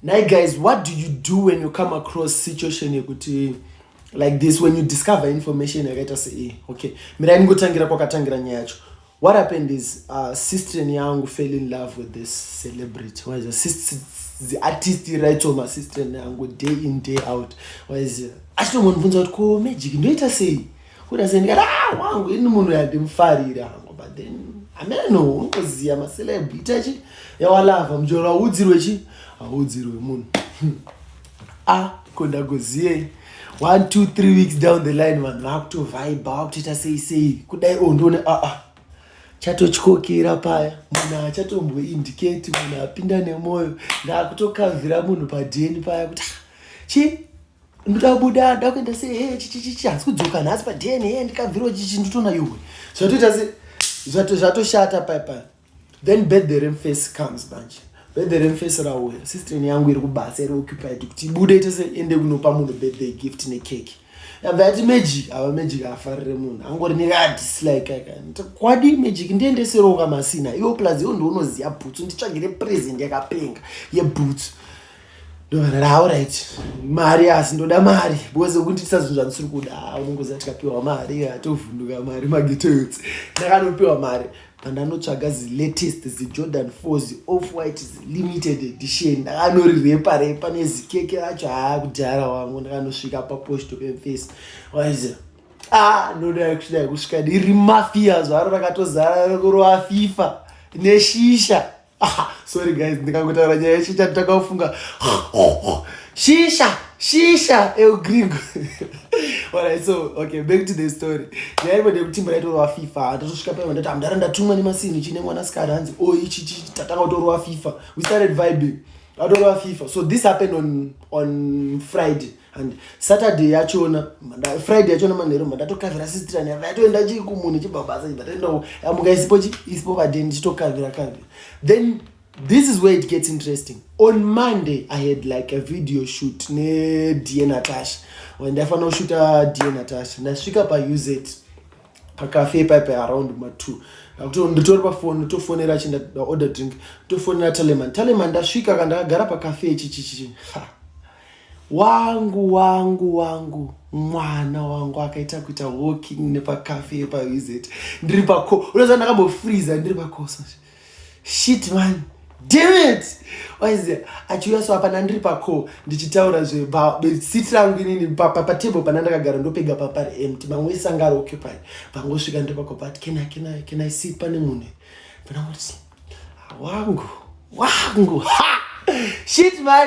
Nhai guys, what do you do when you come across situation yekuti like this when you discover information yakaita sei? Okay, mirai ningotangira kwakatangira nyaya yacho. What happened is uh, sister yangu fell in love with this celebrity. What is it? Sister, the artist writes on my sister yangu day in day out. What is it? Achitombonibvunza kuti ko magic ndoita sei? Kuda seni kana ah wangu ini munhu yandimfarira hangu but then ameno unoziya ma celeb ita chi yawalava mjora audzirwe chi audzirwe munhu. ah konda goziye. 1 2 3 weeks down the line vanhu vakuto vibe vakutoita sei sei kudai oh ndone ah ah chatotyokera paya munhu achatombwe indicate munhu apinda nemoyo ndakutokavhira munhu padeni paya kuti ah, chii ndikabuda ndakuenda se he chichichichi hanzi kudzoka nhasi padn he ndikabvirwa chichi ndotona yuwe zvatoita se zvatoshata paipa then birthday remface comes manje birthday remface rauya sistren yangu iri kubasa iri occupied kuti ibude tese ende kunopa munhu birthday gift nekeki yabva yati magic ava magic afarire munhu angori nekadislike kwadi magic ndiendeseroka masina iwo plus iwo ndiunoziva bhutsu nditsvagire present yakapenga yebhutsu ndovaraaurit mari asi ndoda mari because kunditisa zvinhu zvandisiri kuda ah, unongoziva tikapiwa mari hatovhunduka mari magetoyotsi ndakanopiwa mari pandanotsvaga zilatest zijordan four zioff white zilimited edition ndakanorirepa repa nezikeke racho haa kudhara wangu ndakanosvika paposto pemface waiziva ah ndoda kusvika kusvika ndiri mafia zvaro rakatozara rokurova fifa neshisha sorry guys ndikangotaura nyaya yeshisha nditakaofunga shisha shisha eugringo alright so okay back to the story nyaya imwe ndekutimba yaitorwa fifa hatotosvika paiva ndati amdara ndatumwa nemasini chine mwana sikari hanzi o oh, ichi chi tatanga kutorwa fifa we started vibing atorwa fifa so this happened on, on friday and saturday yachona friday yachona manheru mandatokavira sistrani yava yatoenda chii kumunhu chibabasa chibva toendawo amuka isipo chi isipo vadeni chitokavira kavira then this is where it gets interesting on monday i had like a video shoot nedie natasha ndaifanira kushuta die natasha ndasvika pauz pakafe paipe around matwo nditori pafoni ndotofonera chinda order drink ndotofonera taleman taleman ndasvika kandakagara pakafe ichichichichi wangu wangu wangu mwana wangu akaita kuita walking nepacafe pavizit ndiri pako unoziva ndakambofreeza ndiri pakoso shit man dammit waize achiuya so apana ndiri pako ndichitaura zvesiti rangu inini patable pana ndakagara ndopega papari empty mamwe ese anga ari occupied pangosvika ndiri pako but can i can i can i sit pane munhu pana kuti wangu wangu ha shit man